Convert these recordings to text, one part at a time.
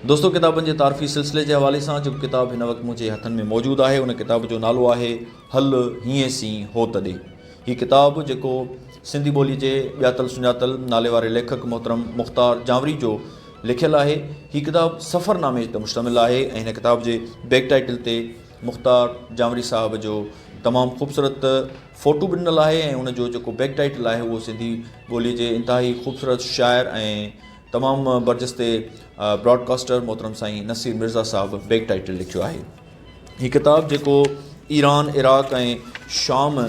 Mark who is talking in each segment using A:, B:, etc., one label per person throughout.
A: دوستو ڪتابن جي تعارفي سلسلي جي حوالي سان جيڪو ڪتاب هن وقت منهنجي هٿن ۾ موجود آهي ان ڪتاب جو نالو آهي هل هينئين سين هو تڏي هي ڪتاب جيڪو سنڌي ٻولي جي ڄاتل سڃاتل ناليواري ليکڪ محترم مختار جانوري جو لکيل آهي هي ڪتاب سفر نامي تي مشتمل آهي ۽ هن ڪتاب جي بيڪ ٽائيٽل تي مختار جانوري صاحب جو تمام خوبصورت فوٽو به ڏنل آهي ۽ ان جو جيڪو بيڪ ٽائيٽل آهي اهو سنڌي ٻولي جي انتهائي خوبصورت شاعر ۽ تمام برجستي براڊ ڪاسٽر محترم سائين نصير مرزا صاحب بيڪ ٽائيٽل لکيو آهي هي ڪتاب جيڪو ايران عراق ۽ شام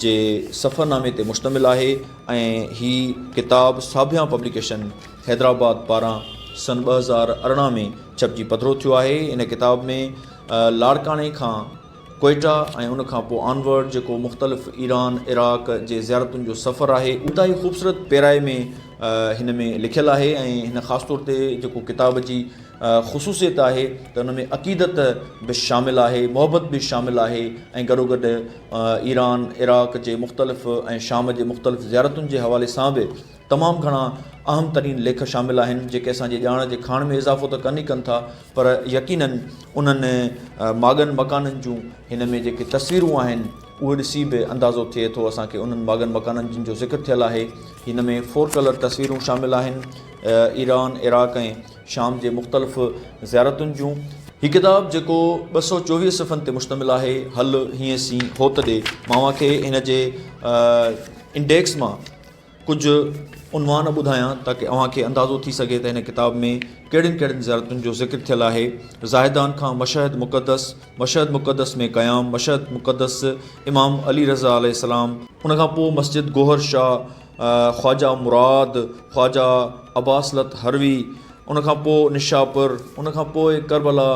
A: جي سفرنامي تي مشتمل آهي ۽ هي ڪتاب ساڀيان پبليڪيشن حيدرآباد پاران سن ٻه هزار ارڙهن ۾ ڇپجي پڌرو ٿيو آهي ان ڪتاب ۾ لاڙڪاڻي کان ڪوئيٽا ۽ ان کان پوء آن ورڊ جيڪو مختلف ايران عراق جي زيارتن جو سفر آهي انتهائي خوبصورت پيرائي ۾ هن ۾ لکيل آهي ۽ هن خاص طور تي جيڪو ڪتاب جي خصوصيت آهي ته ان ۾ عقيدت به شامل آهي محبت به شامل آهي ۽ گڏوگڏ ايران عراق جي مختلف ۽ شام جي مختلف زيارتن جي حوالي سان به تمام گهڻا اهم ترين ليک شامل آهن، جيڪي اسان جي ڄاڻ جي کاڻ ۾ اضافو ته ڪن ئي ڪن ٿا، پر يقيناً انهن ماڳن مڪانن جون هن ۾ جيڪي تصويرون آهن، اهي ڏسي به اندازو ٿئي ٿو اسان کي انهن ماڳن مڪانن جن جو ذڪر ٿيل آهي. هن ۾ فور ڪلر تصويرون شامل آهن، ايران، عراق ۽ شام جي مختلف زيارتن جون. هي ڪتاب جيڪو ٻه سؤ چوويهه صفحن تي مشتمل آهي، هل هينئسين هوت ڏي مان اوهان کي هن جي انڊيڪس مان ڪجهه عنوان ٻڌايان تاڪه اوهان کي اندازو ٿي سگهي ته هن ڪتاب ۾ ڪهڙين ڪهڙين زيارتن جو ذڪر ٿيل آهي، زاهدان کان مشهد مقدس، مشهد مقدس ۾ قيام، مشهد مقدس، امام علي رضه عليه السلام، ان کان پوء مسجد گوهر شاهه، خواجه مراد، خواجه اباصلت هروي، ان کان پوء نشاپور، ان کان پوء ڪربلا،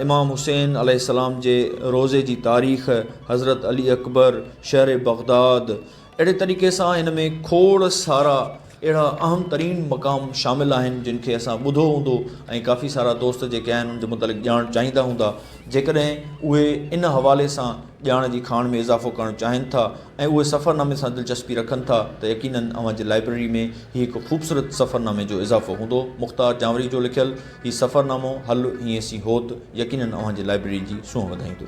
A: امام حسين عليه السلام جي روضي جي تاريخ، حضرت علي اڪبر، شهر بغداد، اهڙي طريقي سان هن ۾ کوڙ سارا اهڙا اهم ترين مقام شامل آهن جن کي اسان ٻڌو هوندو ۽ ڪافي سارا دوست جيڪي آهن ان جي متعلق ڄاڻ چاهيندا هوندا جيڪڏهن اهي ان حوالي سان ڄاڻ جي کاڻ ۾ اضافو ڪرڻ چاهين ٿا ۽ اهي سفرنامي سان دلچسپي رکن ٿا ته يقيناً اوهان جي لائبرري ۾ هي هڪ خوبصورت سفرنامي جو اضافو هوندو مختار جانوري جو لکيل هي سفرنامو هل هينئسين هوت يقيناً اوهان جي لائبرري جي سونهن وڌائيندو.